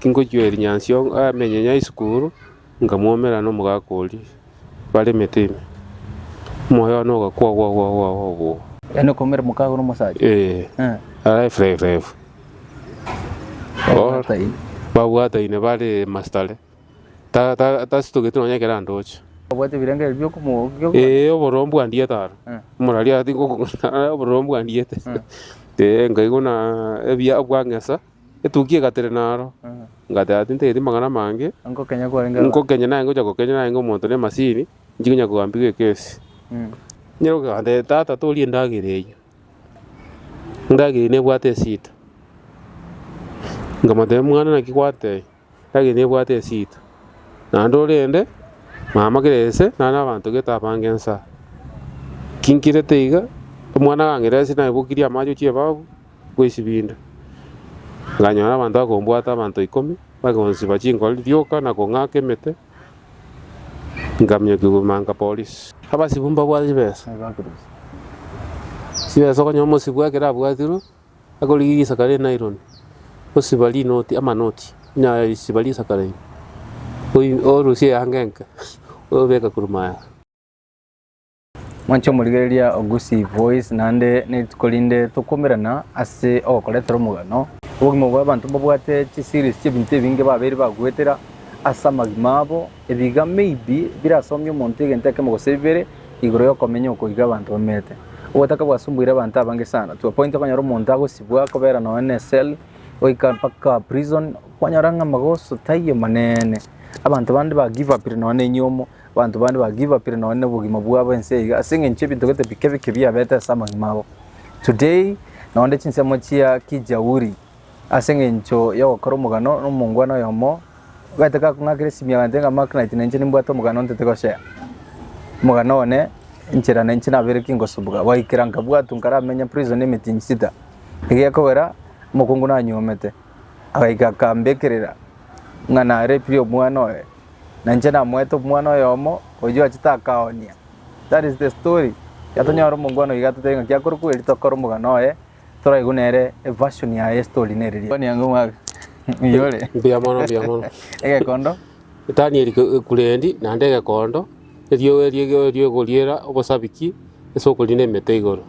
Tingochia erinyansi o amenye nyaisukuru, nkamwomera nomogaaka oria, baremete ime. Omoyo one ogakwa gwa gwa gwa gwa gwa. Yaani okomera omokaago na omosacha. Ee, Eh. araefura erefu. Or, Taini. babwataine bare mastare. Ta- ta- Tasitogeti nonya ekero andoche. Obwate ebirengo ebi biokomo bio. Ee, obororo mbwandiete aro. Eh. Moraria ati ngokong'ana obororo mbwandiete. Ee, nkaigwa na ebia bwang'esa. Etukia egatera naro, ngateba tintegeti magana amange, Nkokenya kwarenge abana. nkokenya naye ngocha gokenya narenge omonto na emasini, nchikonya kogampigwa ekesi. Nyiro kantebia tata toria endagera eyio, endagera eyio nebwate esida. Nkamotebia mwana naki gwatebia. Egaki nebwate esito, naende orende mama kere gese nare nabanto gete abange ensa. Kinkirete iga, omwana agang'ira esira naebokirie amache chi'ebabu bwe esibindi. Nkanyora abanto bakombwata abanto ikomi, bagonsiba chinkori rioka na kong'aka emete, nkaminyokigwa Manka Police. Abasibu mbabwate chibesa, chibesa okonyora omosibu ekero abwatirwe. Akorigia risaka rinaironi, osiba rinoti amanoti nya risiba risaka riri, oi orusie eanga enke, oyobeka korwa maega. Mwanche omorigereria Ogusi Voice naende nerituko rinde tokwomerana ase ogokoretera omogano. Obogima bwabanto mbabwate chiseries chiebinto ebinge babeire bagoetera ase amagima abo Ebiga maybe birasomie omonto egento ekemo gose bibere igoro yokomenya oko iga abanto bamenyete. Ogotaka gwasumbuire abanto abange sana to a point okonyora omonto agosibwa akobera nonye ne cell goika mpaka prison kwanyora ng'a magoso taiyo manene. Abanto bande ba give upire nonye ne enyomo, abanto bande ba give upire nonye ne obogima bwabo ense iga ase eng'encho ebinto gete bike bike biabete ase amagima abo. Today nonye chinsemo chia kijauri Ase engencho y'ogokora omogano nomongwana oyomo, bwete gakong'akera esimi agantebia ng'a Mark Knight na inche nimbwate omogano ntete gochea. Omogano one, enchera na inche nabeire ki ngosubuga. Gwaikera nkabwatwa nkaramenye prison emetinyi sita. Egekogera, omokungu nanyuomete, agaika akambekerera ng'a narepirie omwana oye. Na inche namoete omwana oyomo oyio achete akaoonia. That is the story. Ekero tonyora omongwana oyo iga totebi ng'aki akorokwa erio tokore omogano oye. Toraigwe nere eversion ya estory nere ria. Kwani ango mwaka. Yore. Mbuya mono mbuya mono. Egekondo. Daniel Kurendi naende egekondo erio erio erio egoriera obosabiki ase okorina emete igoro.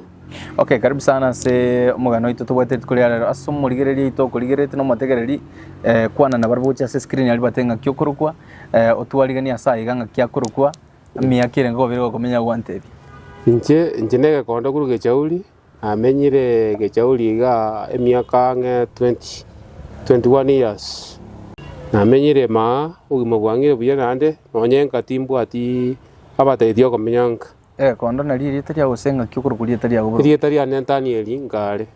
Okay karibu sana ase omogano oito tobwate rituko ria rero ase omorigereria oito okorigererete na omotegereri eh, kwana na barabwo gocha ase screen ari bate ng'aki okorokwa eh, otwariganie ase aiga ng'aki akorokwa miaka ere nkobere gokomenya gwantebia Inche inche negekondo kuru gechauri Namenyire egechauri iga emiaka ang'e twenty, twenty one years. Namenyire maa, obogima bwang'ire buya naende, nonye nka timbwati abatagete okomenya nka. Ekondo nario erieta ria gose engaki okorokwa rieta ria boronge. Erieta ria Netanieli nkare.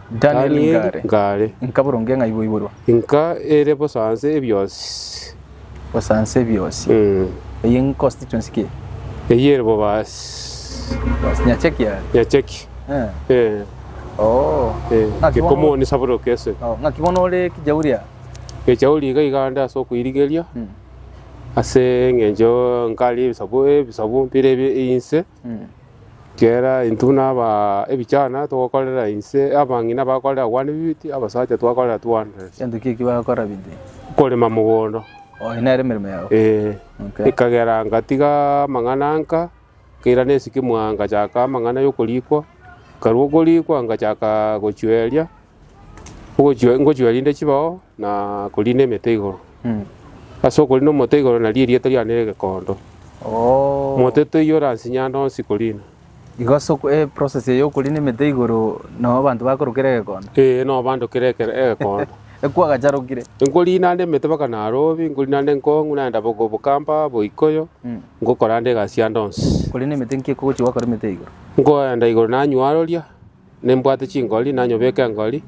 Danieli nkare. Nkare. Nka boronge ng'a iboiborwa. Nka ere bosa nse ebionsi. Gosansa ebiosi. Mm. Eye ng'e constituency ki? Eyio ere Bobasi. Basi nyacheki are. Nyacheki. Eh. Eh. Oh. Eh. Ng'aki bono- Gekomoni saburoka ese. Oh, ng'aki bono ore kijauri aa. Echauri iga iga ande ase okoirigeria Mm. ase eng'encho nkare ebisabu ebisabu mpire ebi inse. Kera intwe naba ebichana togokorera inse, abang'ina bakorera one fifty, abasacha twakorera 200. Gento ki eki bagokora bidii? Korema mogondo. Oh, eye nere emeremo yao. Eh, Okay. ekagera ngatiga amang'ana nka nkairana esikimo aa ngachaka amang'ana y'okorikwa nkarwa okorikwa ngachaka gochweria Ogochua, ngochua rinde chibao na koriina emete igoro. Ase okoriina omote igoro nario erieta riane rire gekondo. Oo. Mote toiyo oransinyanda onsi koriina. Igo ase oko- eh, process eye y'okoriina emete igoro nao abanto bakorokera egekondo. Ee, nao bandokera eke- egekondo. Ekwo agacharokire. Nkoriina ande emete mpaka Nairobi, nkoriina ande Ngong, nagenda bogo- Bokamba, Boikoyo, Mm. ngokora ande egasi ande onsi. Koriina emete nki ekogochia gwakora emete igoro? Nkoenda igoro nanywororia. Nimbwate chingori, nanyobeke engori,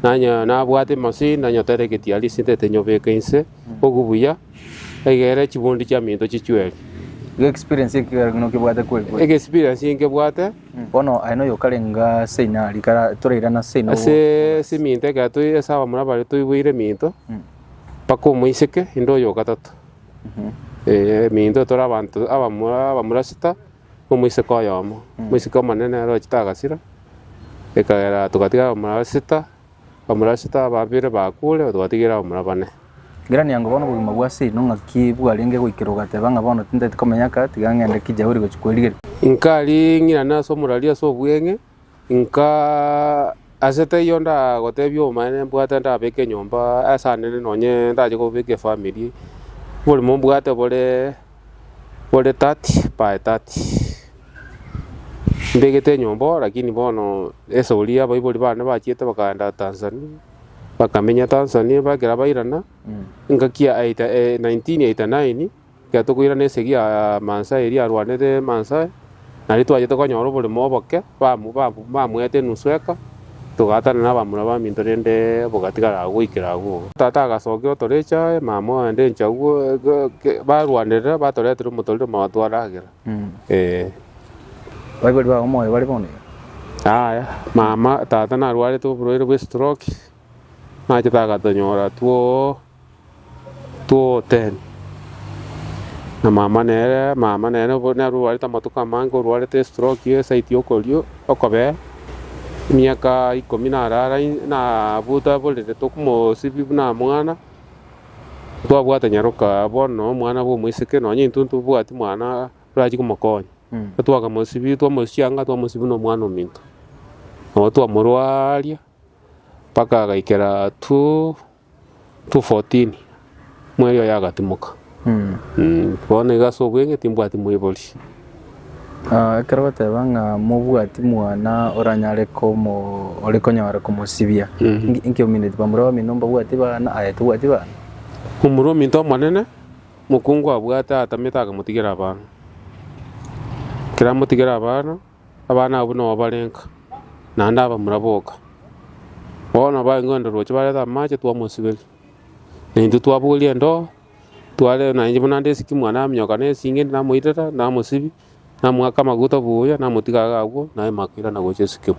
na onye nabwate emosii, nanyotere egetiari ase intete nyobeke inse bogu buya, egere chibundi chiaminto chichweri. Iga experience eke ekero nokebwate kweri kweri. Ege experience nkebwate Bono aye noyo okarenga ase ina rika ra- torairana ase ina ase ase eminto ekero toi ase abamura bare toiboire eminto Mm. mpaka omoiseke inde oyo ogatato. Eh, eminto tore abanto abamura abamura sita, omoiseke oyomo, omoiseke omonene ere ochete agasira, ekagera togatiga abamura basita, abamura basita babere bakure twatigira abamura bane. Gerania ng'a bono obogima bwa ase eye nong'aki bwarenge goikera ogateba ng'a bono tintagete komenya aka, tiga ng'ende Kijauri gochia kwerigeria. Inkari ng'irane ase omorari ase obweng'e, Inka ase teiyo ndagotebia obomanene mbwate ndabeke enyomba ase Anene nonye ndache kobeka efamiri, oborimo mbwate bore bore thirty by thirty. Mbegete enyomba oo lakini bono esori ya abaibori bane bachiete bakaenda Tanzania, bakamenya Tanzania ekero bairana engaki ya nineteen eighty nine. Ekiagera tokoirana esegi ya mansa eria arwanete mansa aye, na riria twachete konyora oboremo oboke, bamoete enusu eka, togaatana nabamura baminto rende bogatigara agwo goikera agwo. Tata agasokia otorecha aye, mama oende inche agwo, barwanerera batoretera omotorero mabo twaragera, ee. Baibori bao omoyo bare bono iga. Yaya, mama, tata narwarete oborwaire bw'estroke, nachete agatonyora twoo. 2:10 Na mama nere, mama nere obo nere orwarete amatuko amange, orwarete estroke ye side y'okorio, okobee, emiaka ikomi narara in- nabuta borere tokomosibia buna mwana, twabwata nyaroka bono omwana bwa omoiseke, nonye intwe ntobwati mwana orachi komokonya. Twakamosibia, twamochianga, twamosibia buna omwana ominto. Nabo twamorwaria, mpaka agaikera 2 2:14 Mweri oye agatimoka, bono igo ase obweng'e timbwati moibori. Ekero bateba ng'a mobwati mwana oranyare komo ore konyara komosibia, inki inki omineti? Bamura bamino mbabwati bana? Aye tobwati bana. Omura ominto omonene, mokungu abwate atamete akamotigera abana. Ekero amotigera abana. Abana abwo nao barenka, naende abamura boka. Bono baengeo endorooche bareta amache twamosiberia, na intwe twabogoria endoo, tware na inche buna nde esiki mwane aminyoka na esinge endi namoitera, namosibia, namoaka amaguta buya, namotiga iga agwo, naye makoirana gocha esikimo.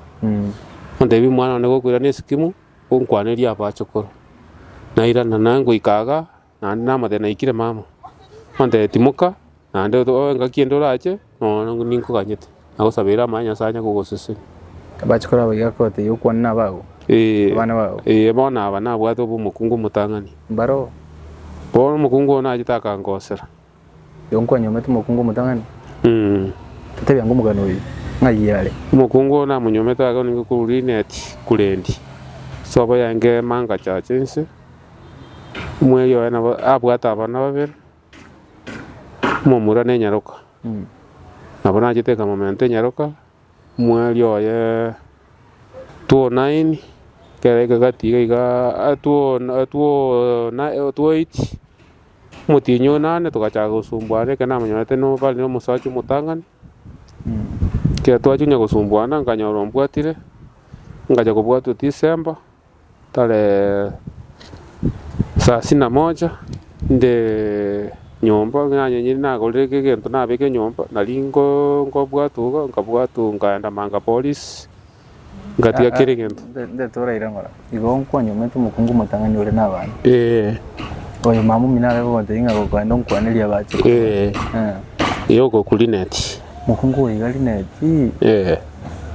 Ontebia omwana one gokoirana esikimo, onkwanerie abache korwa. Nairana, naye ngoika igaa. naende namotebia naikire mama, ontebia timoka naende otoe engaki ende orache noone ninkoganyete, nagosabeire amache Nyasaye anye kogosesenia. Bache koraba iga koteba yokwana nabago, Ee, abana bao. ee, bono aba nabwate obe omokungu omotang'ani. Mbaro. Bono omokungu oo nachete akangosera, Oyo nkwanyomete mokungu omotang'ani, totebia ng'a omogani oyo ng'ai are. Omokungu oyo namonyomete agakora ningo korwa Linet Kulendi, sobo ya Ngeema ngachacha ense. Omweri oye nabo abwate abana babere, omomura ne nyaroka. Nabo nachete ekamomenta enyaroka, omweri oye two nine, ekero aika gati iga iga two two na two eight. Omotienyi oyo naende togachaka gosumbuana, ekero namonyorete no bare nomosacha omotang'ani, ekero twachia onye gosumbuana nkanyora ombwatire, nkacha kobwatwa December tarehe saa sini na moja nde nyomba ng'a onye nyiri nagorire eke egento nabeke nyomba, nari ngo- ngobwatwa iga nkabwatwa nkaenda Manga Police. Gati ga kera egento. Ndete oraire ng'ora. Igo nkwanywa omanyete omokungu omotang'ani ore nabana. Ee. Oyo mama omino are gogotebia ng'a gokoenda onkwaneria abache koba. Ee. Eh. Ee ogoku Lineti. Mokungu oyo iga Lineti. Ee.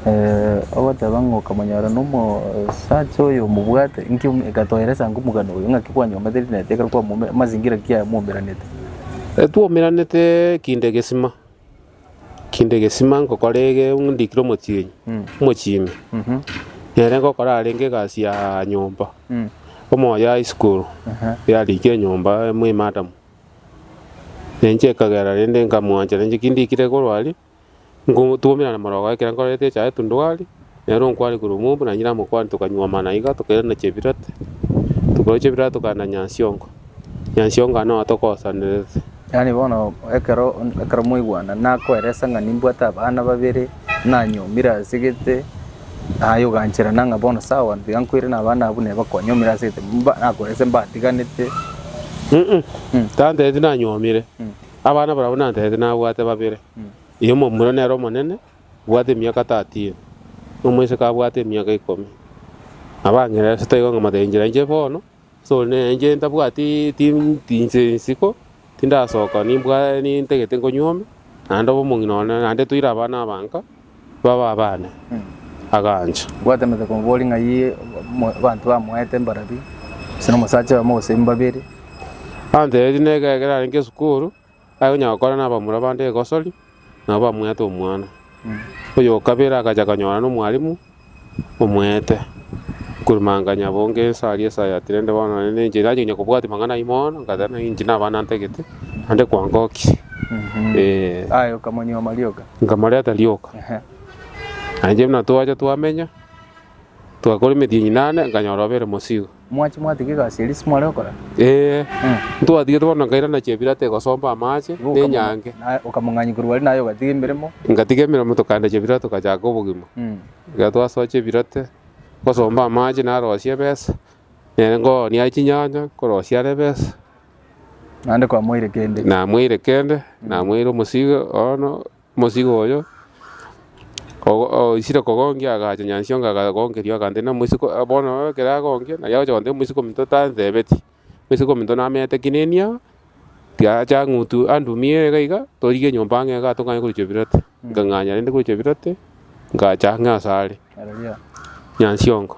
Eh, ogoteba ng'a okamonyora nomosacha oyo omobwate, inki omi- gati oelesa inki omogano oyo, ng'aki kwanywa omanyete Lineti ekero kwamome, amazingira ki aya mwomeranete? Etwomeranete kinde egesima. Kinde egesima ngokora ege ndikire omotienyi, omochimi, nere ngokora arenge egasi ya nyomba, omoyo ya isiko yarikire nyomba amo emadam, na inche ekagera rende nkamwanchera inche ki ndikire korwa aria, nkotuomerana morogo ekero nkorete echae tondwari. Nere okware korwa omoombu na nyire amokwani tokanywa amana iga tokairana chebirate, tokairwa chebirate tokaenda Nyansiongo. Nyansiongo aa noyo togosanerete. Yaani bono ekero ekero mwaigwana nakoeresa ng'a nimbwate abana babere nanyomire asegete aye oganchera na ng'a bono sawa tiga nkoirane abana abwo neba kwanyomire asegete mba nakoerese mbatiganete tantereti nanyomire abana barabwo nantereti nabwate babere oyomo omuro nere omonene Bwate emiaka tatini, na omoiseke abwate emiaka ikomi. Abang'ina ase toigo ng'a motebe inchera inche bono, ase ore ne inche ntabwati tinti nse isiko, tindasoka nimbwa nintagete nkonywa ime, naende obe omong'ina one, naende toire abana abanka, babe abane. Agancha. Bwate emiaka ikomi bori ng'ai mo- abanto bamoete mbarabwo, gose na omosacha oyomo gose mbabere. Antebetie neke ekero arenge esukuru. Agonya gokora nabamura bande egosori, nabo bamweete omwana. Oyokabere agacha akanyora nomwalimu omweete, Nkurumanganya bonga ense aria esayatire, inde bono nonye ninche nache konya kobwatia mang'ana ayio mono, nkateeba naki inche naba nantagete, naende kwangokire. Eeh. Aye okamonyuoma rioka. Nkamoreta rioka. Ehe. Nainche buna twacha twamenya, twakora emetienyi nane, nkanyora obere mosigo. Mwachi mwatiga egasi eria ase mware gokora? Ee, ntwatigete bono na nkairana chebirata egosomba amaache, Igo na okamong'a- enyanke. na okamong'anyia korwa aria naye ogatiga emeremo. Ngatiga emeremo tokaenda chebirata togachaka obogima. Mm. Ekero twasoa chebirate, ngosomba amaache narosia ebesa, nere nkoonia aye chinyanya, nkorosia are ebesa, Naende kwamoire kende. namoire kende, namoire omosigo bono. Omosigo oyo oisire kogonkia agacha nyansiongo akagonkeria ogantebia, nomosiko bono oye ekero agonkia, naki agocha gotebia omosiko ominto tantebetie. Omosiko ominto namenyete ki nini aa, tiga acha ang'utu andumie iga iga, torigia enyomba ang'e igaa tokanye korochia ebirote. Nkang'anya rende korochia ebirote, ngacha ang'e asare nyansiongo.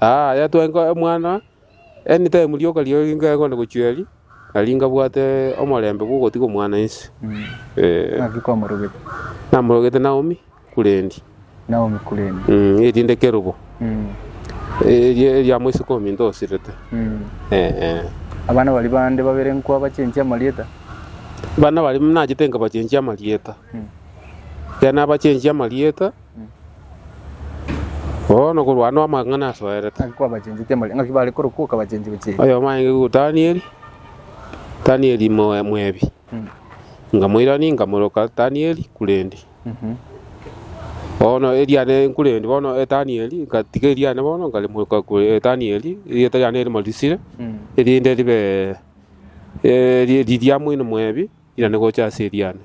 Aya twenka omwana anytime rioka riao ringa egonde gochia eria, nari nkabwate omorembe bw'ogotiga omwana inse. Eh, Naki kwamorogete namorogete Naomi Kurendi, Naomi Kurendi. mm, erinde kerobo Mm, eria eria moiseke ominto osirete. mm. Eh, eh. Abana baria bande babere nkwabachenchia amarieta? Bana baria nachete nkabachenchia amarieta, Mm. ekero nabachenchia amarieta Bono korwa ande amang'ana asoerete. Ng'aki kwabachencheti amariko? Ng'aki bare korokwoka abachenchi bachenchi? Oyomo aenge iguru Danieli, Danieli moe- mwebi. Nkamoirania, nkamoroka Danieli kurende. Bono eriane nkurende bono Danieli, nkatiga eriane bono nkarimoka kure Danieli, erieta riane rimo risire, erinde ribe eh, ri- riria moino mwebi. Irane gocha ase eriana,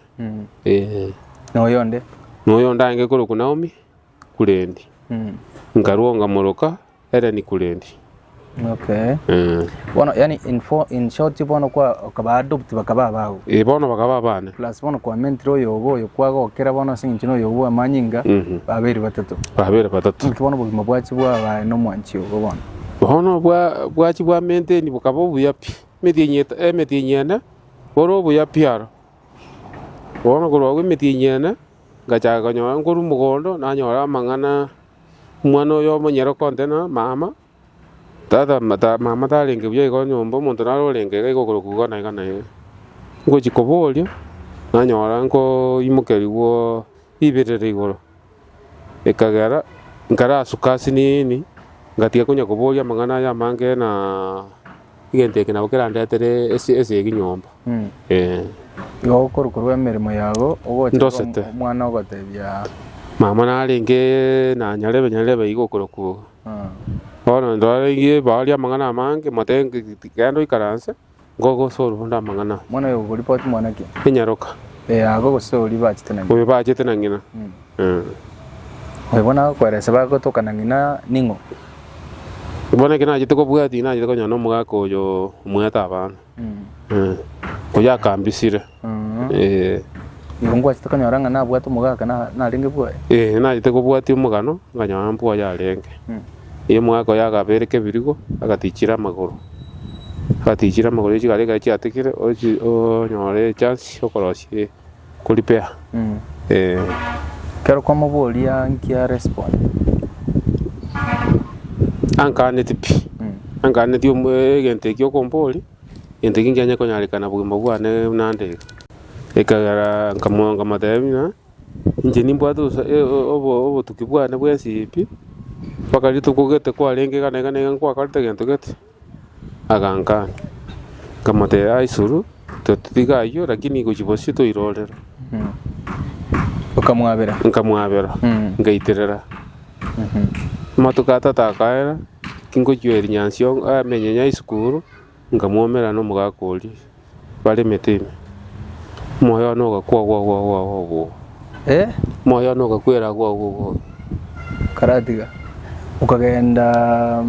ee. Na oyonde? Na oyonde aenge korokwa Naomi, Kurendi. Nkarua ongamoroka Eleni, Kurendi. Okay. Ee. Bono yani in, for, in short bono kwa okaba adopt bakaba abao. Ee, bono bakaba abane. Plus bono kwa mentire oyo obo oyo kwagokera bono ase eng'encho noyo obo amanyinga Mhm. babere batato. Babere batato. Inki bono obogima bwachi bwabae nomwanchi obo bono? Bono bwa bwachi bwa menteni bokaba obuya pi. Emetienyi eta, emetienyi ene Ore obuya piaro, bono korwa agwo emetienyi ene ngachaaka konyora nkorwa omogondo, nanyora amang'ana, omwana oyo omonyene okontena, Mama, tata, mama tarenge buya iga nyomba, omonto naro orenge iga okorokwa iga na iga na iga. Ngochia koboria, nanyora nkoimokerigwa ribirire igoro. Ekagera nkarasuka ase nini, ngatiga konya koboria amang'ana aya amange na egento eke nabo kerandetere ase ase ege nyomba. Mm. Eh, Igo okorwa korwa emeremo yago ogocha Ndosete. obe omwana ogotebia mama narenge nanyarebe nyarebe iga okorokwo. ah, Bono ndorenge baria amang'ana amange, mote genda oikaranse. Ngogosa ororo amang'ana aya. Mwana oyo ogoripoti mwana ki? Enyaroka. Ee, ago gose oria bachete na ng'ina. Oyo bachete na ng'ina. Ee. Oyo bono agokoeresa bagotoka na ng'ina ning'o? Bono ekero nachete kobua tinachete konyora na omogaka oyo omoete abana. Ee. Oyo akambisire. Ee. Igo ngwachete konyora ng'a nabwate omogaka na narenge bwoye. Ee, nachete kobwatia omogano nkanyora mbwoye arenge. Ee, omogaka oye akabereka ebirigo, agatichire amagoro. Agatichire amagoro ya chigari ekero chiatigire ochi onyore echance ya okorosia korepair. Ee. Ekero kwamoboria nki a respond? Ankaaneti pi. Ankaaneti omo egento ekio okomboria. Gento ki nkianye konyarekana bogima bwane buna nde iga? Ekiagera nkamoteebia ng'a, Inche nimbwate obotuki bwane bw'ensibimbi, mpaka rituko gete kwarenge iga na iga na iga nkwakorete gento gete. Agankana, nkamoteebia, Aisuru, totiga ayio, lakini gochi bosio toirorere. Nkamwabera, nkaiterera. Amatuko atato akaera, tingochia erinyansi amenye ng'a isukuru, nkamwomera nomogaka oria baremete ime. Omoyo one ogakwa agwo agwo agwo agwo agwo agwo. Omoyo one ogakwera agwo agwo agwo agwo. Karatiga, okagenda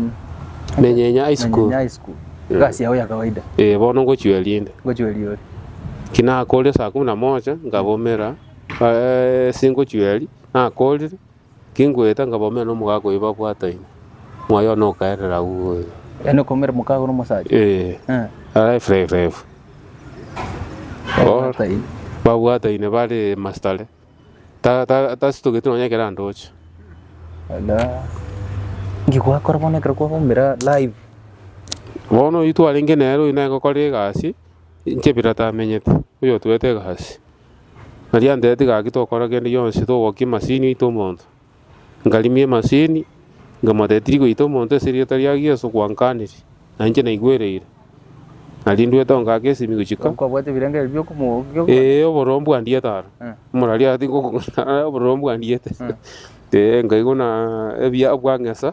Menyenye high school. Menyenye high school. Egasi yao ya kawaida. Eh, bono ngochia erinde. Ngochia eriori. Ki nakorire saa kumi na moja, nkabomera, eh, singochia eri, nakorire. Kingoeta nkabomera nomogaaka oyo babwataine, moyo one okaerera agwo oyo. Yaani okomera omokaago na omosacha? Ee, Eh. alive, live, live. Or- Taini. babwataine bare masitare, Ta- ta- tasitogeti nonya ekero andoche. Ala. Nki gwakora bono ekero kwabomera live? Bono oyio twarenge nere oyio nere ngokora egasi, inche bira tamenyete, oyio otwete egasi. Nario anteeti gaki tokora kende gionsi togokia emasini oite omonto. Nkarimia emasini nkamotebia tiri goita omonto ase erieta ria Yeso gwankaniri na inche naigwereire. Nario ndwete ongake esimi gochika. Kwabwate ebirengererio biokomogokia Ee oboroo mbwandiete aro. Eh. Moraria ati ngokong'ana oboroo mbwandiete. Ee nkaigwa na ebiabwo ang'esa.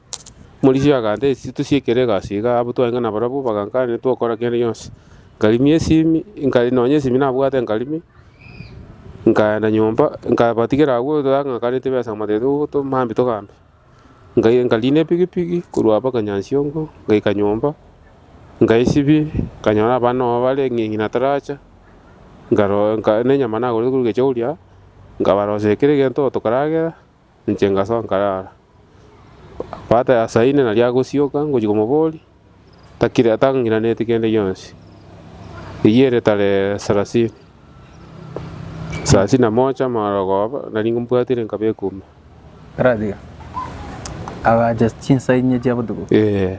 Morisio agantera esisi tosiekere egasi iga, abwo twarenge nabarabwo bagankania tokora kende gionsi. Nkarimia esimi, nka nonye esimi nabwate nkarimia, nkaenda nyomba nkabatigera agwo totang'akaneti besa mobatebi ogoto mambi togambe. Nkai nkariina epigipigi korwa aba Kanyansiongo ngaika nyomba, nkaesibia, nkanyora abana nao bare ng'a ng'ina taracha, nkaroa nka na enyama nagorete korwa Gechogoria, nkabarosia kera egento tokaragera, Inche ngasoa nkarara. Paata ya saa ine naria agosioka ngochia komoboria, takire tang'iranetie kende gionsi. Eyio ere tarehe sarasini. Sarasini na mocha mara okoba, nari mbwatire nkaba ekume. Aratiga. Agacha chinsa inye chia botuko. Eh,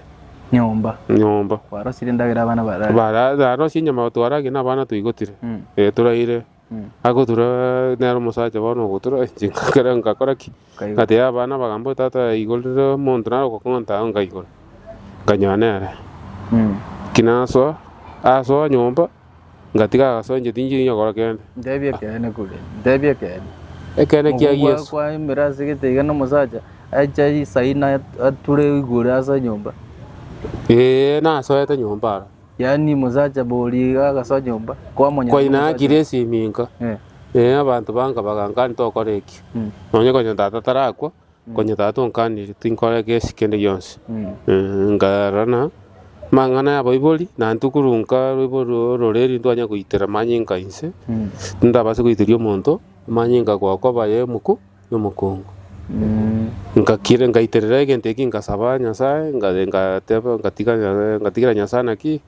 Nyomba. nyomba. Kwarosire endagera abana barare. Bara- Narosie nyama twarage na abana toigotire. Mm. Eh, toraire Agotura, nere omosacha bono ogotura, eh, chingaka kare ngakora ki? Ngatebia abana abagaamborete, Tata, igoro rire omonto nare ogokong'onta ao ngaigora, nkanyora nere. Ki nasoa? Asoa nyomba, ngatiga agasoa inche tinchiri nyokora kende. Ntebi ekeene kore, ntebi ekeene. Ekeene kia Mokobua Yeso. kwaimire ase egete iga na omosacha ache aisaine at- ature igoro ase enyomba. Ee, nasoete nyomba aro. Yaani omosacha bori iga agasoa nyomba, kwamonyana Kwa ina nomosacha akire ase eminka, Eh. ee, abanto banka bagankani tokora eki, Mm. nonye konya tata tarakwa, konya tata onkanire tinkore egesi kende gionsi. Mm. Eh, nkarorana amang'ana ya abaibori, na intwe korwa nka roibori ororeri ntwanya goitera amanyinga inse, Mm. tindabasa goiteria omonto amanyinga gokoba aye omoku, nomokuungu. Ngakira, ngaiterera egento eki, ngasaba Nyasae, nga- ngateba, ngatiga Nya- ngatigera Nyasae naki,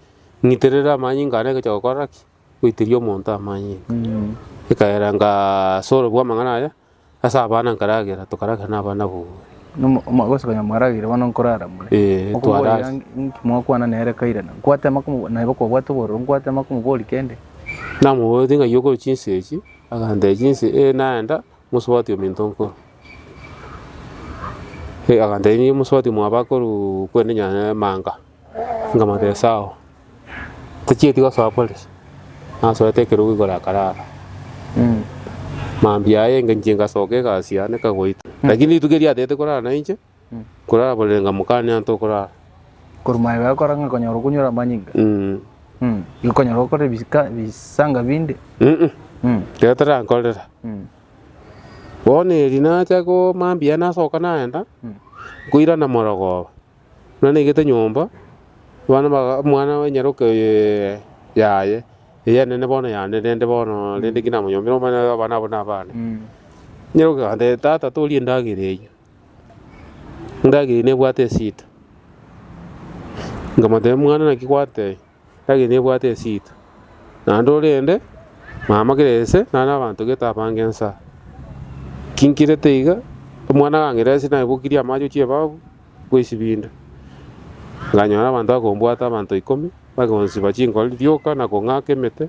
ng'iterere amanyinga ane gochia gokora ki? Goiteria omonto amanyinga. Ekaira ngasorobua amang'ana aya, ase abana nkaragera, tokaragera na abana bobe. Nomo- omo- gose konya mwaragire bono nkorara more. Eh, Okoboria twarara. inki mwakwana nere kaire na nkwatema komo- naye baka obwate obororo, nkwatema komoboria kende. Namoboretie ng'ai okore chinsa echi? Agantebia chinsa, eh, naenda, Mosubati ominto nkoro. Agantebia, Nigo mosubati omwabo akoruu kwende nyanya emanga. Nkamotebia, Sawa, tochieti gosoa polisi. Nasoete ekerogo igoro akarara. Mambia aye, nka inche ngasoka egasi yane ekagoitwa. Lakini rituko erio atete korara nainche, Koraborere ng'a mokane anto okorara. Korwa maega agokora ng'a konyora okonyora amanyinga. Igo konyora okore ebisika ebisanga binde. Ekero tarankorera. Bono eri nacha ko mambia nasoka nagenda, nkoirana morogoba. Buna naigete nyomba, abana baga omwana o nyaroke oye yaye, eye enene bono yane rende bono rende ki namonyombere omanyete abana abwo na abana. Nyaroke agantebia tata toria endagera eyio. Ngageri nebwate esita, nkamotebia, Mwana naki gwatebia? Ngageri nebwate esita, naende orende mama kere gese naro na abanto gete abange ense aa. Ki nkirete iga? Omwana agang'ira esita naibokirie amache ochia ebafu ngoisibinde. Nkanyora abanto bakombwata, abanto ikomi, bakonsiba chinkoro rioka na kong'aka emete.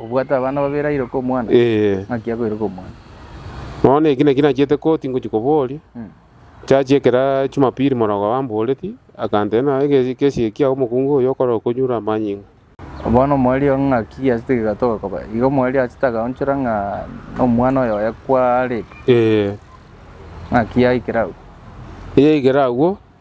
Obwate abana babere airoke omwana? Ee. Naki akoiroka omwana? Bono eki nakio nachiete koti ngochia koboria. Church ekera Jumapili morogoro amboreti, akantebia nonya ege egekesi eki kiao omokungu oyo okore okonyure amanyinga. Bono omoerio ng'aki giachete kegatoka koba? Igo omoerio achete akaonchora ng'a nomwana oyo oye kware. Ee. Naki yaikire agwo? Yaikire agwo,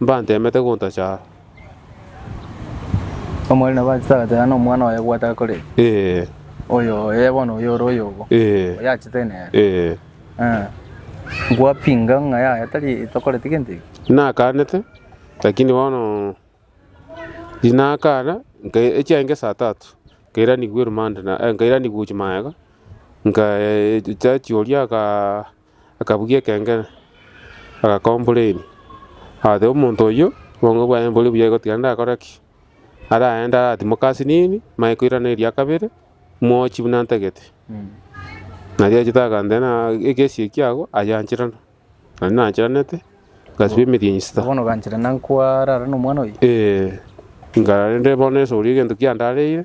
Mbanteemete gontacha aa. Omorweri nabo achete agateba, Nomwana oye gwataka korera. Ee. Oyo oye bono oyo ore oyogo. Ee. Oyo achete nere. Ee. Ee. Nkwapinga ng'a yaya tari etokoreti gento eke. Nakaanete, lakini bono tinakaana, nka- echiaye nka esaa tatu, nkairanigwa erumande na- eh, nkairanigwa gochia magega, nkae- cha chioria akaa. akabugia ekengere, agakomplaini. Agateba, Omonto oyio obongo bwaye mbore buya igo tiga ndakore ki? Araende aratimoke ase nini, manye koirana eria kabere, mwochi buna ntagete. Nario achete akantea ng'a egesi eki ago ayancherana. Naende nancheranete, ngasibwa emeeri enyisita. Bono ogancherana nkwara are nomwana oyio? Ee, nkararende bono esuri egento kiandareire,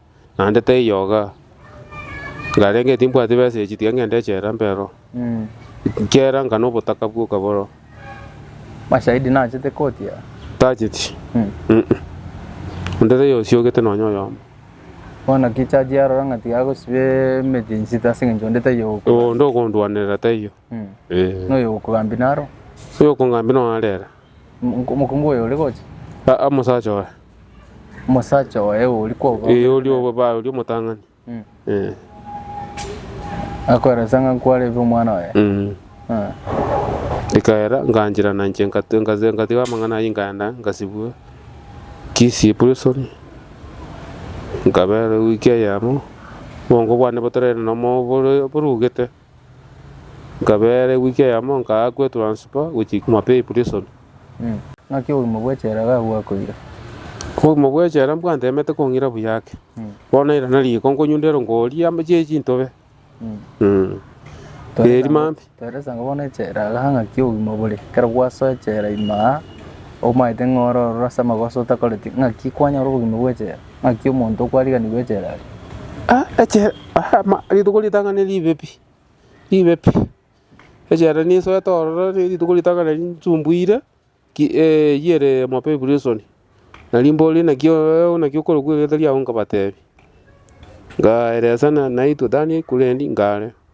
naende teyoga, nkarenge timbwati besa echi tiga ngende echela mbe ero. Mm. Nkiera nkana obotaka bwoka boro, Mashahidi nachete koti aa. tacheti. Mm. Mm-mm. Onde teyosiogete nonya oyomo. Bono ki chaji arora ng'a tiga agosiba emeti ensito ase eng'encho onde tayogokora? Oo, onde okondwanerera taiyo. Mm. Eh. Noyogokogambi naro. Oyokongambia nonarera. Mokungu oyo ore gocha. Aa, omosacha oye. Omosacha oye oria kwabao. Eh, oria obae, oria omotang'ani. Mm. Eh. Akoeresa ng'a nkwarebe omwana oye. Mm. Ah. Ikaera nganchira na nche nkatu- nkaze- nkatiga amang'ana ayio nkaenda nkasibwa Kisii prison nkabera ewiki eyemo obongo bwane botarere nomo bore- borugete Nkabeera ewiki eyemo nkaa kwetransifa gochia Mapei Prison. Naki obogima bw'echela iga bwakoira? Obogima bw'echela mbwanteemete kong'ira buya ake. Bono irana riiko nkonyundera nkoria amo chie chintobe. Eeri maambi. Toeresanga bono echela iga ng'aki obogima bore. Ekero gwasoa echela ime aa, omaete ng'a ororo ase amagoso otakoreti, ng'aki kwanyora obogima bw'echela? Ng'aki omonto okwariganigwa echela aria? Ah echela ah ama rituko ritang'ani ribe pi, ribe pi, echela nisoete ororo ne rituko ritang'ani nsumbuire ki yere mobe eprison, nari mbore naki oyoyo naki okorokwa erieta riago nkabatebi, ngaeresa naitwe tani kuriendi ngare.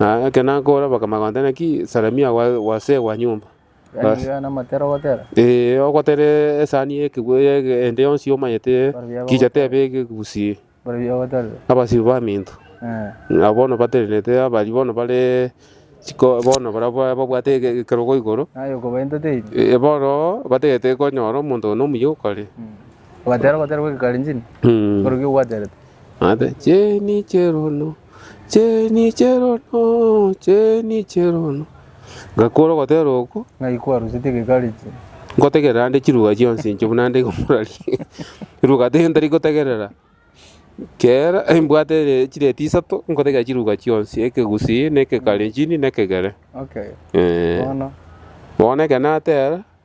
Na ekero nakoora bakamanya kontera naki Salamia gwa- gwasegwa nyomba. Bas- Riga namotera ogotera. Ee, ogotere esani y'ekegwe y'ege- ende yonsi omanyete kicha tebe egegusie Bore bigo ogoterire. abasiru baminto. Eh. Ng'a bono batenenete abari bono bare chiko bono baria ba- babwate ege- ekerogo igoro. Naye okobainta teiri. Ee, bono batagete konyora omonto one omuya okare. Obatera ogotera gw'Egekalenjini. Mm. Bore ki ogwaterete. Ngakora ogotera okwo. Ngaikwa aroseti egekareti. Ngotegerera ande chiruga chionsi inche buna nde komoraria. Riruga tiri ntari gotegerera. Kera mbwate chireti isato ngotegerera chiruga chionsi, ekegusii, na ekekarenjini, na ekegere. Bono ekero natera.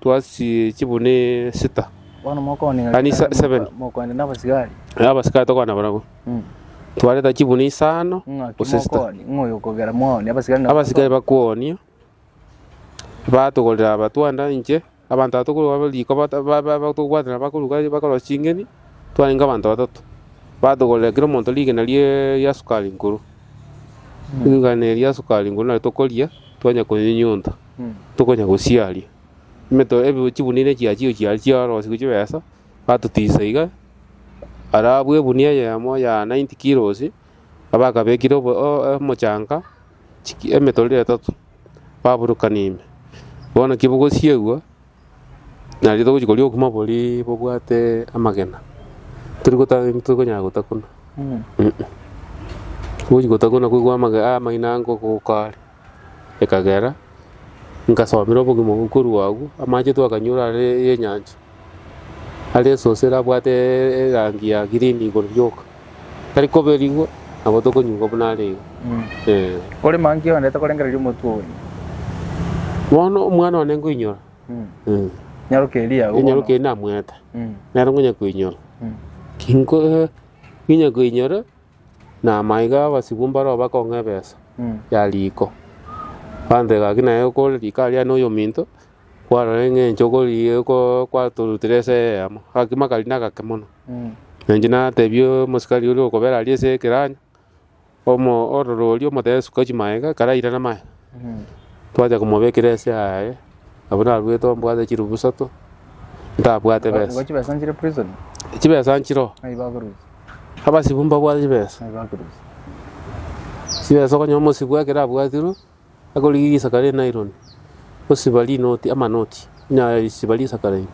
Twasi chibuni sita, yaani seven, na abasikari tokwana barabwo, twareta chibuni isano gose sita. Abasikari bakwonia, batogorera abatwanda inche, abanto aba tokorwa riko bata- ba- ba- ba- tokobwaterana bakoruga bakorosia ching'eni, twarenge abanto batato, batogorera kera omonto rigena rie- ria sukari nkoro, rigena eria ria sukari nkoro nario tokoria, twanya konyenyunta. tokonya gosiaria. Emeto ebi chigunia echi achio chiaria chiarosiwu chibesa, batotisa iga, arabu egunia eyemo ya 90 kilos, abakabekire obo- o- o- omochanga, chiki- emetoro etato, baburukania ime. Bono ki bogosiegwa, nario togochi koria obokima boria bobwate amagena, tori gota torikonyara gota korwa. Togochi gota korwa na koigwa amage- amaino ango goka are. Ekagera nkasomera obogima obwo korwa agwo, amache twakanyora are y'enyancha, are esosera abwate erangi ya green igoro rioka, tari koberigwa nabo tokonyigwa buna are iga, eh. Kore monkey onde tokorengereria omotwe oye. Bono omwana one nkoinyora, eh. Nyaroka eria yao bono. Enyaroka eria namwete, nere nkonya koinyora. Kinko- eh, nkonya koinyora. Na maiga abasibwa mbare obakong'a ebesa ya riiko. Gantee gaki naye okore riiko aria noyominto, kwarora eng'encho okori- oko- kwatorutire ase egeama, agakima akari nagake mono. Na inche natebia omosikari oria okobera aria ase ekeranyo, omo- ororo oria omotebe suka chimaega, ekero airana amaega, twachaka komobekera ase aye, abwo naruete ombwate chirubu isato, ntabwate besa. Chibesa nchire o? Abasibwa mbabwate chibesa, chibesa okonyora omosibwa ekero abwatirwe akorigia risaka ria enaironi osiba rinoti amanoti onyara risiba risaka rairia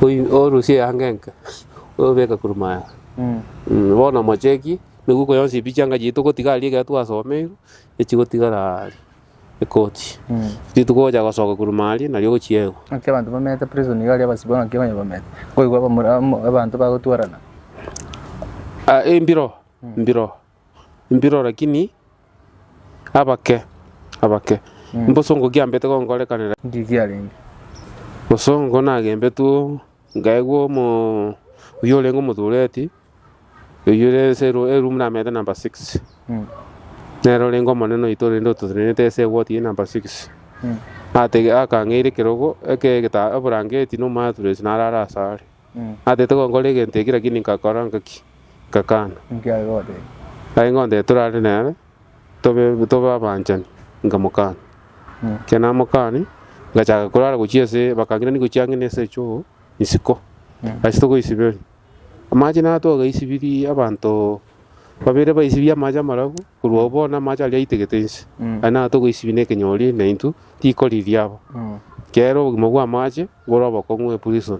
oyi orusie eanga enke obeka korwa maega. Bono omocheki nigwe okoyonsi ebichanga chiaito gotiga aria ekero twasomeirwe echigotigara aria. Ekoti. Intwe togocha gosoka korwa ime aria, nario ogochiegwa. Ng'aki abanto bamenyete prison iga aria abasibwa ng'aki abanyene bamenyete? Nkoigwa abamura amo abanto bagotwarana. Ah, embiro, embiro, embiro lakini abake, abake. Mbosongo kiambete gonkorekanera. Ndiri kiarenge. Bosongo nagembetwe. Nkaigwa omo, oyio orenge omotureti, oyio ore ense ero eroom namenyete number six. Nere orenge omonene oito rende ototenenete ase ewot eye number six. Atege akang'eira ekerogo eke egeta ebrangeti na omaturess narare ase are. Atete gonkora egento eki lakini nkakora ngaki? Ngakana. Aye ngontete torare nere. tobe tobe abanchani, nkamokana. Ekero namokani, ngachaka korara gochia ase bakang'irani gochia ang'e na esecho isiko, ase togoisiberia. Amache naro twagaisibirie abanto babere baisibie amache amarabu, korwa oo bono amache aria aitegete inse, aye naro togoisibia na ekenyori na intwe tikoriria aba. Ekeero obogima bw'amache bore obokong'u eprison.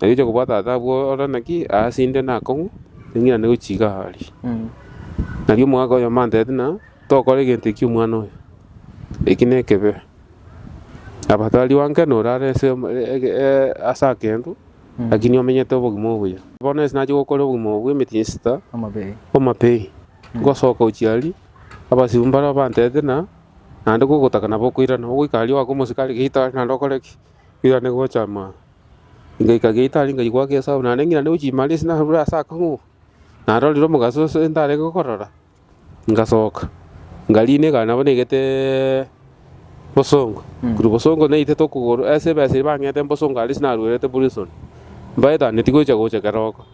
Na riroche kobua tata abwo ore naki aase inde nakong'u, ning'irane gochiga aria. Nari omogaka oyomo antebete ng'a, tokora egento ekio omwana oyo, eki nekebe. Aba tari wanke na ore are ase ase akentu, lakini omenyete obogima obuya. Bono ase nachia gokora obogima obo bw'emetienyi esita omapei, ngosoka gochia aria, abasibwa mbarabwo bantebete ng'a, naende gogotaka nabo okoirana, ogoika aria oake omosike are geita are naende okore ki? Oirane gocha mambia. Ngaika geita aria ngaigwa ake Esau, naende ng'ina negochia imari ase narure ase akang'u, narorire omogaso ase ntarenge gokorora, ngasoka, ngariina egari nabo naigete bosongo, korwa bosongo naitete okogoro ase ebesa eria bang'ete mbosongo aria ase naruerete prison, mbaetaneti gocha gocha keroko,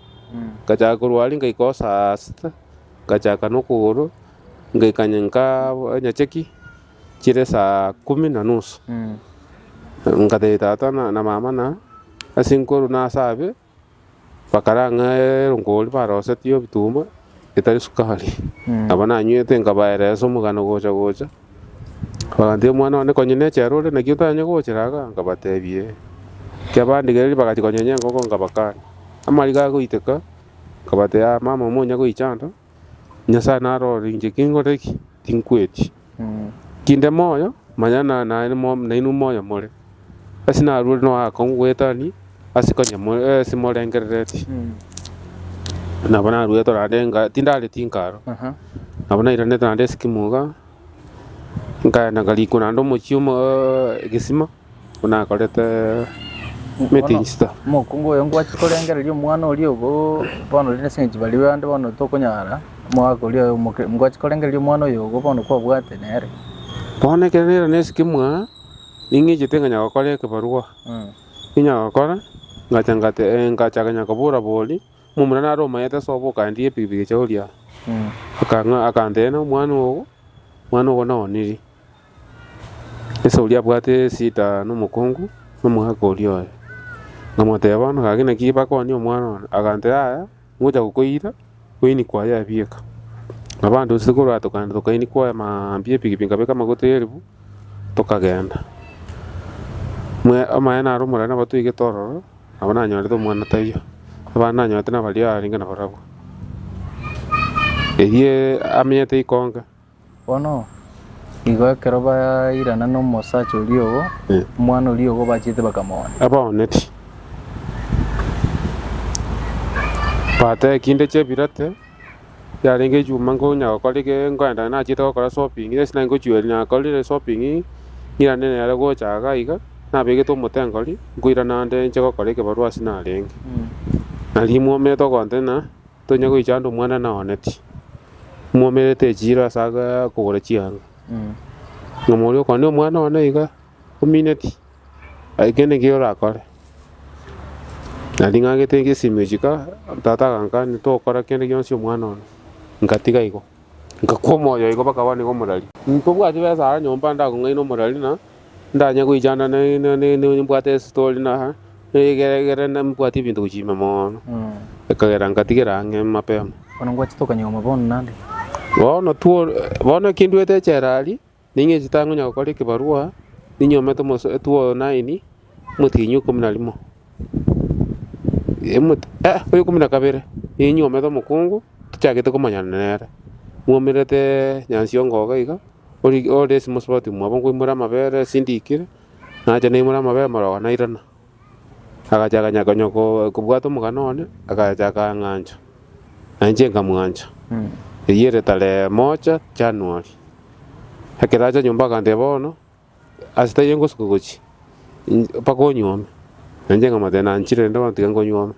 ngachaka korwa aria ngaika oo saa sita, ngachakana okogoro, ngaika nkaa nyacheki. Chiire esaa kumi na nusu, nkateebia tata na mama ng'a ase nkorwa na ase abe, bakarang'a eronkori barosetie ebituma etari sukari, nabo nanywete nkabaeresa omogano gocha gocha, bakantebia omwana one konya nechera ore naki otanye gochera iga, nkabatebia ee. Ekiagera bandigereria bagachia konyenya enkoko nkabakania, amariga agoiteka nkabatebia mama monya goicha ando, Nyasae narore inche kinkore ki? Tinkweti. Kinde moyo, manya na naye mo- nainwe moyo more. Ase narure noe akong'u goetania ase konya mo- eh, ase morengerereti. Nabo naruete naende enga tindare tinkaro. Aha. Nabo nairanete naende ase kimoga, nkaenda nkarikwa naende omochie omo- eh, egesima. buna akorete meeting sita. Bono omokungu oyo ngwachi korengereria omwana oria obo, bono riria ase eng'encho baria bande bono tokonyara, omogaka oria oyo omoke- ngwachi korengereria omwana oyo obo bono kwabwate nere. Bono ekero nere nesike mwaa, ning'echete nganya gokora ekebarwa, ninya gokora, ngacha ngate eh, ngacha kenya kobora boria, momura nare omayete ase oboka aendie epikipiki echa oria, akang'a akanteebia omwana ogo, omwana ogo naoniri. Esau oria abwate esida nomokungu nomogaka oria oye, nkamotebia, Bono gaki naki bakoonie omwana one. Agantera, Yaya, ngocha gokoira, oini kwaye abieka. Nabo abanto inse korwa tokagenda tokaini kwaye mambia epikipiki nkabeka amaguta eribu, tokagenda. Mwe amaene naro omorero nabo toigete ororo, nabo nanyorete omwana taiyo, abande nanyorete nabaria arenge nabarabwo. Erio amenyete ikonge. Bono igo ekero bairana nomosacha oria ogo, omwana oria ogo bachete bakamoona. Abaoneti bateba, Ekinde chia ebirate yarenge echuma nkonya gokora eke, nkoenda nachiete gokora shopping, ase naki ngochia oria nakorire shopping ng'irane nere gocha iga aiga, nabegete omotengo aria, nkoirana ande inche gokora ekebarua ase narenge. Na riria mwaumete ogontena. Tonya goicha ande omwana naoneti, mwomerete echiiro ase aa kogora chianga. Nyuma oria okwane omwana one iga omineti, aye kende ekiya orakore. Na ring'angete ngesimi ochika, tata agankani tokora kende gionsi omwana one. Nkatiga igo, ngakwa omoyo igo mpaka bono igo morari. Ntobwati besa aa nyomba ndakong'aina omorari na. Ndanye goichana nimbwate estory na egere nimbwate ebinto gochia ime mono, ekagera ngatigera ang'e mapema. Bono ngwachete okonyegoma bono naende. Bono two bono eki ndwete echela aria, ning'echete ang'e onya gokora ekebarua, ninyomete omoso two nine, omotienyi ikomi na rimo, oyo ikomi na kabere, ninyomete omokungu. tochagete komanyana nere, mwaumerete nyansi y'ogoka iga, ori ore ase mosubati mwabo nkoimora amabere asindikire, nacha naimora amabere maroba nairana. Agachaka nya- konya ko- kobwata omogana one, agachaka ang'ancha, na inche nkamwancha. Eyio ere tarehe moja January. Ekero acha nyomba aganteba bono. Ase taiyo ngosoka gochia in- mpaka onywe ome. Na inche nkamotebia, Nanchire rende bono tiga nkonywe ome.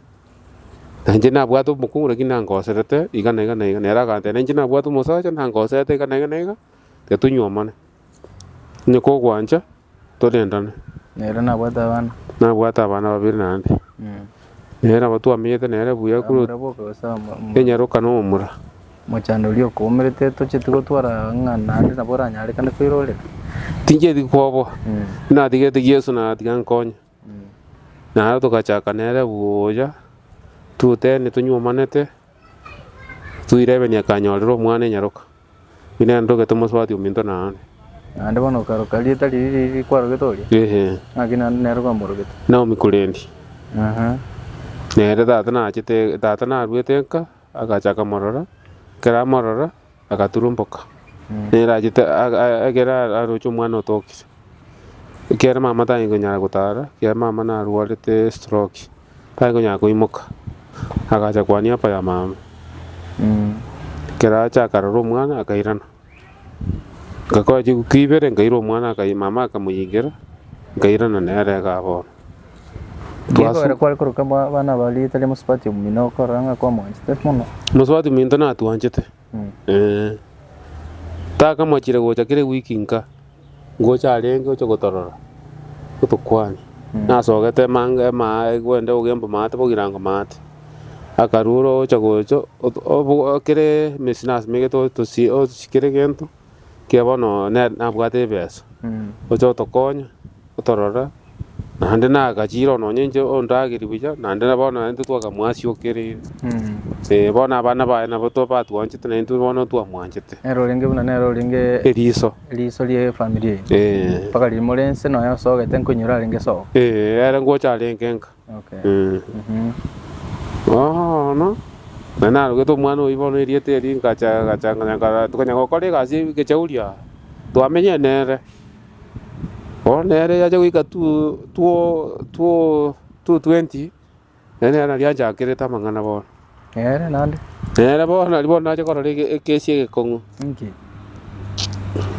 Na inche nabwate omokungu lakini nankoserete iga na iga na iga. Nere agantebia, Na inche nabwate omosacha nankoserete iga na iga na iga, tiga tonywe omone. Onye kogwancha torendane. Nere nabwate abana. Nabwate abana babere naende. Nere nabo twamenyete nere buya Aya korwa murabwo kabisa mo- mo- enyaroka na omura. mochando oria okoumerete tocheti gotwara ng'a naende nabo oranyarekane koirorera Tincheti koboa. Natigete Yesu na atiga nkonye. Naro togachaka nere gocha totebia nitonywomanete. Toirebeni akanyorire omwana enyaroka, ng'ina ere ntoke tomosubati ominto naane. Naende bono okaroka rieta riria riria kwarogete oria, Ehe. naki naende nere kwamorogete. Naomi korende. Aha. Nere tata nachete tata naruete nka agacha akamorora, ekero amorora agaturumboka, nere achete ag- ag- ekero a- aroche omwana otokire. Ekiagera mama tanyari konyara gotara, ekiagera mama narwarete estroki, tari konyara koimoka, agacha kwania papa ya mama. Ekero acha akarora omwana akairana, ngakora chinguru ibere nkaira omwana akaira mama akamoyengera, nkairana nere igaa bono. Nigo Twasu- ere kware koroka aba- abana ba rieta ria mosubati omino okorora ng'a kwamwanchete mono. Mosubati ominto natwanchete. Mm. Eh. Takamachire gocha kera ewiki nka, ngocha arenge oche gotorora, otokwane. Mm. Nasogete emanga emaa egwende ogemba maate bogirango maate. Akarura ocha gocha, oto- obo- kere emesina asemegete otosie otosi kere egento. Kiya bono ne- nabwate ebesa, oche otokonye, otorore, naende nagachire oo nonye inche ondagerie buya, naende na bono naintwe twakamoasiokereire. Ee, bono abana baye nabo to- batwanchete naintwe bono twamwanchete. Nero orenge buna nere orenge Eriiso. eriiso ri'efamiri eye. Ee. Mpaka riria more inse nonya osogete nkonye orarenge sogo. Ee, ere ngocha arenge nka. Bono na narogete omwana oyio bono erieta erio nkacha gacha nganya nka tokanya gokora egasi ya ekechauri aa twamenyire nere. Bono nere yacha goika two two two two twenty nere nere nari anchakerete amang'ana bono. Nere naende. Nere bono nari bono nache korora ege ekesi egekong'u. Inki?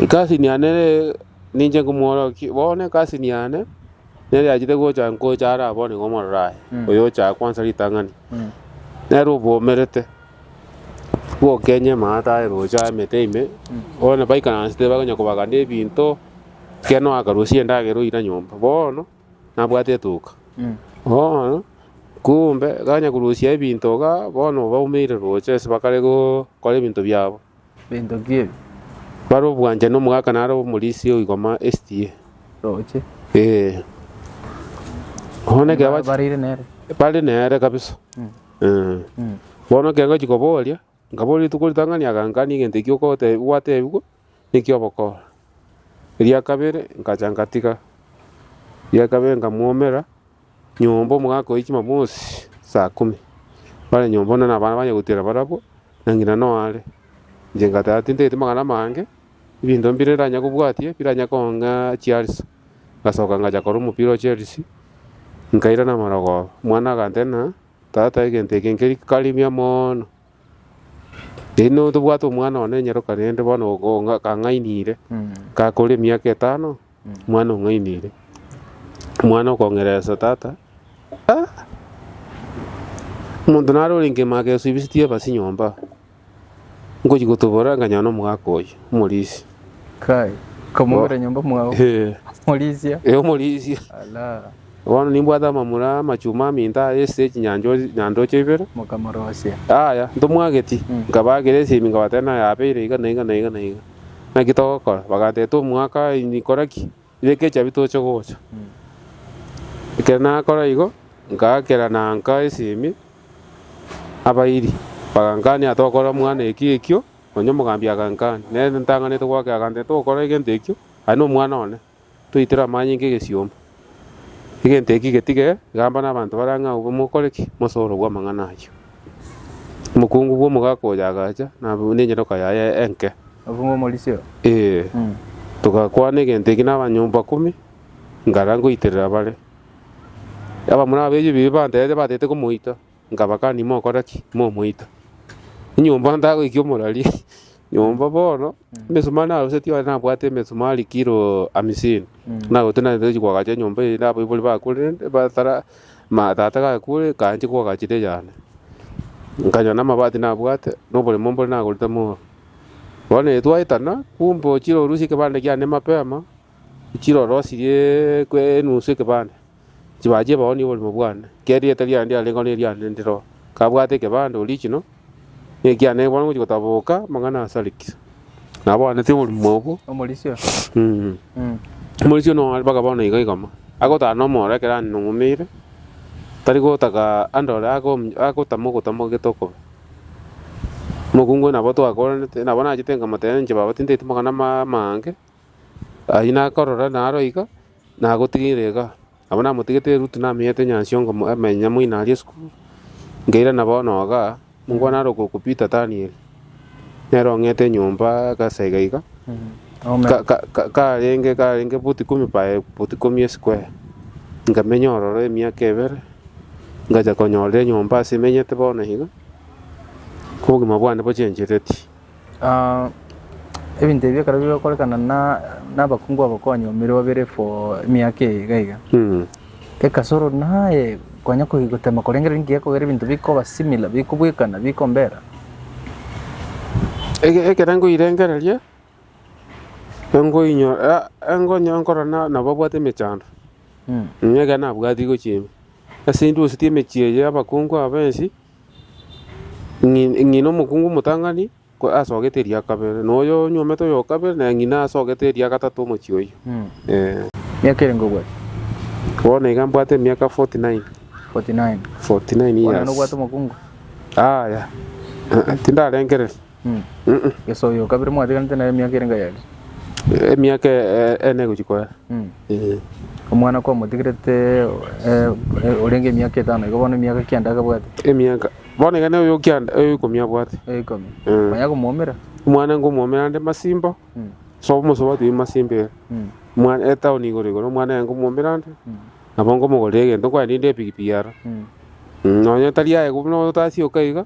Cousin yane ninche nkomworokia bono cousin yane. Nere achete gocha ngocha are abwo nigo omororo aye, oyocha aye kwansa ritang'ani. Nere obwomerete, bwokenye amaate aye roche aye emete ime, bono baikaransete bakonya kobagana ebinto, ekero oakarusia endagera oira nyomba, bono nabwate etuka. Bono kumbe gakanya korusia ebinto igaa, bono baumeire roche ase bakare gokora ebinto biabo. bento nkiebi. Bare obwanchani omogaka nare omorisia o igoma estie. Roche. Ee. Bono ekero bachi- Bareire nere. bare nere kabisa Eh. bono ekero ngochi koboria nkaboria rituko ritang'ani agankania egento ekio okote- gwatebigwa nekio ogokora eria kabere nkacha nkatiga eria kabere nkamwomera. Nyomba omogaka oye chimamosi saa ikomi, bare nyomba buna nabana banye gotiera barabwo, na ng'ina noare. Inche ngatara tintagete magana amange, ebinto mbire ndanya kobwatia biranya kong'a chiarisa. Ngasoka ngacha korora omopira o Chelsea, nkairana amarogoro. Omwana agantebia ng'a tata egento eke nkeri kari buya mono. Erinde tobwate omwana one nyeroka rende bono okong'a kang'ainire, gakore emiaka etano. Omwana ong'ainire. Omwana okong'eresa tata, Ah! Omonto nare ore nkemama agesubisetie ebasi nyomba, ngochia gotoborera nkanyora omogaka oyo, omorisia. Kai, okamongera nyomba mwao. Eh, Morisia. eh, omorisia. Ala, Bono nimbwate amamura amachuma aminto aya ase chinyancho- nyandocho ibere. mokamorosia. Aya, ntomwageti. Mm. Nkabagera esemi nkabatebia naye abeire iga na iga na iga na iga. Naki togokora? Bagantebia, Tomwaka inyikora ki? Reka echabi toche gocha. Ekero nakora igo, ngaakera na nka esimi abairi. Bagankania, Tokora mwana eki ekio. Onye omogambi agankania, nere ntang'anete goakera, agantebia, Tokora egento ekio, aye nomwana one. toitire amaanyi nk'egesiomba. Egento eki getige gamba nabanto bare ang'e agwo, mokore ki? Mosore obwo amang'ana ayio. Omokungu bw'omogaka oyo agacha na nenyeroka yaye enke. Omokungu omorisio. Ee, togakwana egento eki n'abanyomba ikomi, ngara ngoiterera bare. Abamura ab'ebibe bantebete batete komoita. Nkabakania, Mokora ki? Momoita nyomba ntagoikia omorari nyomba bono emesumari narusetie onye nabwate emesumari kiro amisini narusetie naende tochia koagacha nyomba eye nabaibori bakorende batara ma tata gakure kanche koagachera eyane. Nkanyora na amabati nabwate na oboremo mbore nagorete mooro. Bono ere twaetana kumbe ochire orusie ekebanda kiane mapema ochire orosirie enusu ekebanda. Chibaa chi'ebao ni'oborimo bwane, kera erieta riaye ndiarengeo neriane ndire oo. Kabwate ekebande original, na ekiane bono ngochia gotaboboka amang'ana ase Alex. Nabwanete oborimo obwo. Omorisia oyo. Mm. Omorisia oyio noare mpaka bono iga igoma. Agotara nomoro ekero aning'umeire, tari gotaka andore ago- agotama ogotama ogete okobe. Mokungu oyo nabo twakoranete, nabo nachete nkamotebia inche baba tintaeti magana ama- amaange. Ayio nakorora naro iga, nagotigire iga. Abwo namotigete erutu namenyete nyansi ongo amenye moino aria esukuru. Nkairana bono iga, monkwana are okwo Peter Daniel. Nere ong'ete nyomba gasaiga iga, ka- ka- ka- karenge karenge foot ikomi by foot ikomi esquare. Nkamenya ororo emiaka ebere, ngacha konyorire nyomba ase emenyete bono iga, obogima bwane bochenchereti. Ebinto ebi ekero bigokorekana na nabakungu aba kwanyomire babere for emiaka eye iga iga, ekasoro naye kwanya ko gotema korengereria nki gekogera ebinto bikoba similar bikobwekana bikombera. Ege ekero nkoirengereria, enkoinyo ah enkonyo nkorora na nababwate emechando, nigo ekero nabwati gochia ime. Ase intwe gose ti emechie eye y'abakungu aba ensi, Ng'i- ng'ina omokungu omotang'ani ko- asogete eria kabere, na oyo onyuomete oyo o kabere, na ng'ina asogete eria gatato omochie oyio. Eh, Miaka ere ngobwate? bono iga mbwate emiaka 49, 49. 49 Bono nobwate years. omokungu? Aya, eh, eh, tindarengereria. Yeso oyo okabire mwatiganete naye emiaka ere ngayari? Emiaka ene egochia koera. Omwana kwamotigerete orenge emiaka etano igo bono emiaka kianda akabwate? Emiaka, bono iga noyo kianda oyo ikomi abwate. Oyo ikomi. Manya komwomera? Omwana nkomwomera ande masimba, ase omosobo atebia masimba ere. Omwana etaoni igoro igoro omwana aye nkomwomera ande, nabo nkomogorera egento, nkogenda inde epikipiki aro. Nonya tari aye buna otasioka iga.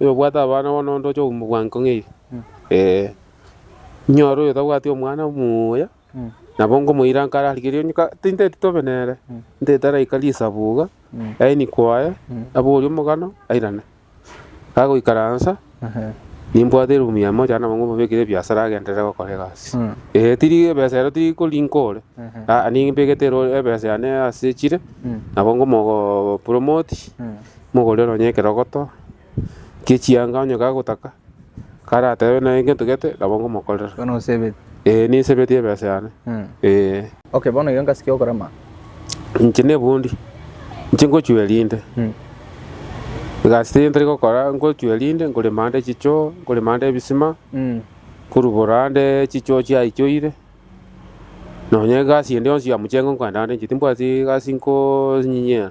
Oyo obwate abana bono onde ocha kobua bwango ng'ai? Ee. Inyore oyo tabwati omwana omuya, nabo ngomoira nkare are kerio onye ka- tinteti tobe nere, nteti araika risabu iga, yaani kwaye, aborie omogano, airane. Agoikaransa, nimbwate eroom ya moja nabo ngomobekera ebiasara agenderere gokora egasi. Ee tiri ebesa ero tiri korinka ore, aa nimbegete ero ebesa yane ase chire, nabo ngomogo promote. mogorere onye ekerogoto gie chianga onye kagotaka, karatebe naye gento gete nabo ngomokorera. Bono osebeti. Ee nisebeti ebesa yane. Mm. Ee. Okay, bono iga ngasikia okorema. Inche nebundi, inche ngochua erinde. Mm. Egasi teri ntari gokora, ngochua erinde, nkorema ande chichoo, nkorema ande ebisima, Mm. nkorubora ande chichoo chiaichoire, nonye egasi ende yonsi ya mochengo nkorenda ande inche timbwati egasi nkonyinyia.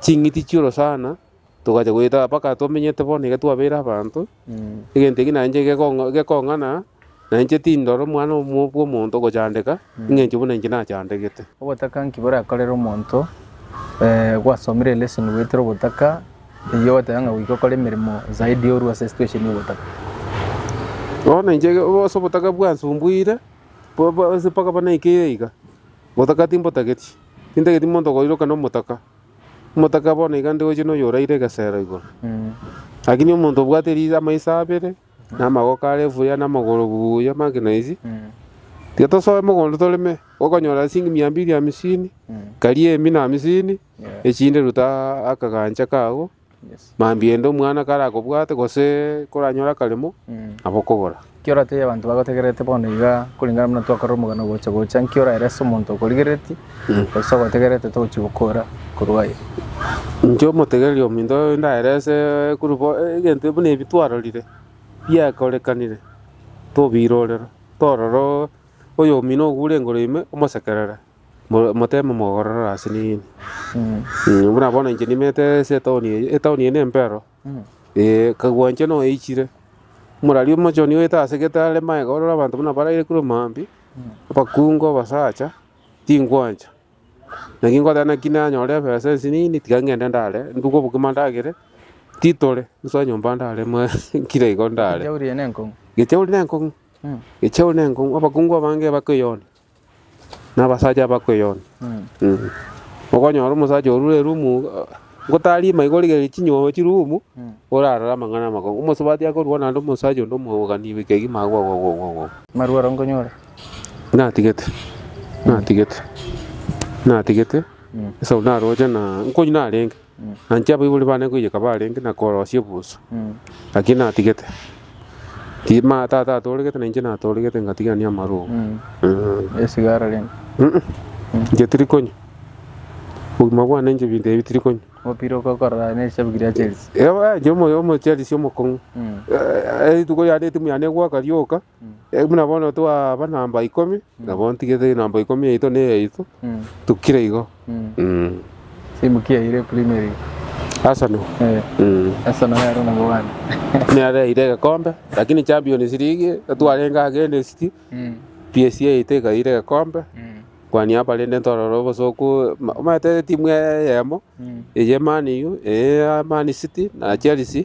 Ching'iti chi'orosana togacha goeta mpaka twamenyete bono iga twabeire abanto, egento eke nainche gekong'a- gekong'ana nainche tindora omwana omo- bw'omonto ogochandeka eng'encho buna inche nachandegete. Obotaka nki borakorere omonto gwasomire elesson goetera obotaka, eyio ogoteba ng'a goika okore emeremo zaidi orue ase esituesheni y'obotaka? Bono inche ge- o- ase obotaka bwansumbuire, bo- bo- ase mpaka bono naikeire iga, obotaka timbotageti. Tintageti monto koiroka nomotaka, omotaka bono iga ndegochie noyoraire egesero igoro. Lakini omonto obwate ri- amaiso abere, na amagoko are buya, na amagoro buya make noisi, tiga tosoe mogondo toreme, okonyora esishingi mia mbiri ya hamisini, karia emi na hamisini, echinde ruta akagancha kago. Mambia ende omwana karakobwate gose koranyore akaremo, nabo okogora. Ki oratebie abanto bagotegererete bono iga koringana buna twakorire omogano ogocha-gocha? Nki oraere ase omonto okorigereretie, gose ogotegererete togochia gokora korwa aye? Inche omotegereri ominto oyo ndaere ase egurubu egento buna ebi twarorire biakorekanire, tobirorera torora oyomino ogo orenge ime omosekerere. Mo- Moteme mogororere ase nini? Eh, buna bono inche nimete ase etown eye, etown eye nempero. Eh, kagua inche noeichire, omorari omochoni oete ase gete are magega ororo abanto buna baraire korwa maambia, abakungu, abasacha, tingwancha. Naki ngoteba naki nanyore ebesa ensi nini, tiga ngende ndare, nduge obokima ndagere, titore, nsoe nyomba ndare moe nkire igo ndare. Ekechauri eye nenkong'u. Ekechauri nenkong'u, ekechauri nenkong'u, abakungu abange bakoyoonia. nabasacha abakweyona. Okonyora omosacha orure erumu ngotarima igo origereria chinyongo chirumu orarore amang'ana amakongo. Omosubati akorua naende omosacha onde omwabogani beke kegima agwo agwo agwo agwo. Marwaro nkonyore. Natigete, natigete, natigete, esau naroche na nkonywa narenge. Naintwe abaibori bane ngoiyeka barenge na korosia ebuso, lakini natigete. Tima tata atoregete nainche natoregete ngatigania amaroro. Eh. Esigara rende. Mm. Inche tiri konywa. Obogima bwane inche ebinto ebi tiri konywa. Opire okokorora nerishabu kiria Chelsea. Ewa, inche omo- omo Chelsea omokong'u. Eh, eh, rituko yane etimu yane egwaka rioka. Buna bono twaba namba ikomi, nabo ntigete namba ikomi yaito na eyaito, tokire igo. Arsenal, nere yaira egekombe, lakini Champions League twarenge against City, PSG yaito ekaira egekombe, kwani apa rende ntorore obosooku, omanyete timu eyemo, eye Man U, eye Man City na Chelsea.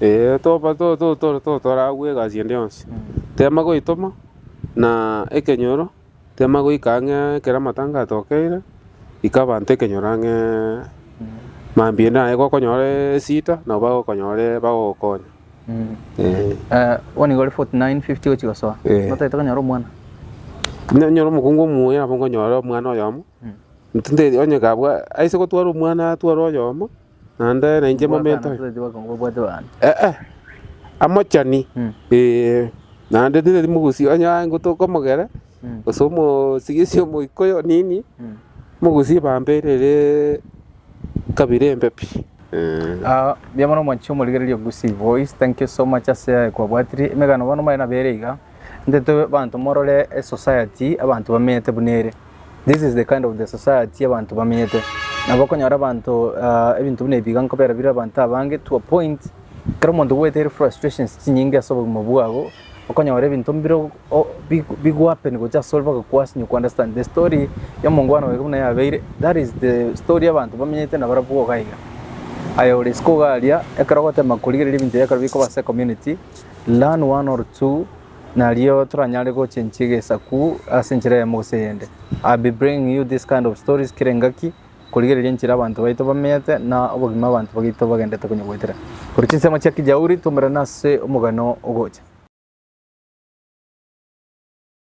Ee, toba to- to- to- to- toragwe egasi ende yonsi, tema goitoma na ekenyoro, tema goika ang'ee ekero amatanga atokeire, ika abanto ekenyoro ang'ee mambia ende naye gokonyoree esida, nabo bagokonyoree bagogokonya ee. Eh, bono iga ore 49, 50 ogochia gosoa, Eh. notagete konyora omwana? Nanyora omokungu omuya nabo nkonyora omwana oyomo, nti- nte- onye kabwa aise gotwara omwana atware oyomo. Naende nainche momento aye. Tibwatana ase obotugi bw'abanto bane. Eh, amochani, Mm. ee, naende titari mogusi onye aye ngotoka omogere, Mm. gose omosigisi omoika oyo nini, Mm. mogusi bambeire ere kabira embe pi. Eh, Ah, mbuya mono mwanchi omorigereria Gusii Voice, thank you so much ase aya kwabwatire. Emegano bono mbaye nabere iga, ntete abanto morore esociety abanto bamenyete buna ere. This is the kind of the society abantu bamenyete nabo okonyora abanto ah, ebinto buna ebiga nkobera bire abanto abange to a point kero omonto gwete ere frustrations chinyinge ase obogima bwabo okonyora ebinto mbire o- o- bi- bigwapen gocha ase ore mpaka kwasinye ku understand the story ya omongwana oyo buna yabeire that is the story y'abanto bamenyete na barabwo iga iga aye ore isiko iga aria ekero ogotema korigereria ebinto ebiya ekero bikoba ase community learn one or two Nario toranyare gocha enchie egesaku ase enchera eyemo gose eyende. I will be bringing you this kind of stories kera engaki korigereria enchera abanto baito bamenyete na obogima abanto bagaito bagendete konyegoetera. Korwa chinsemo chia Kijauri twaumerane ase omogano ogocha.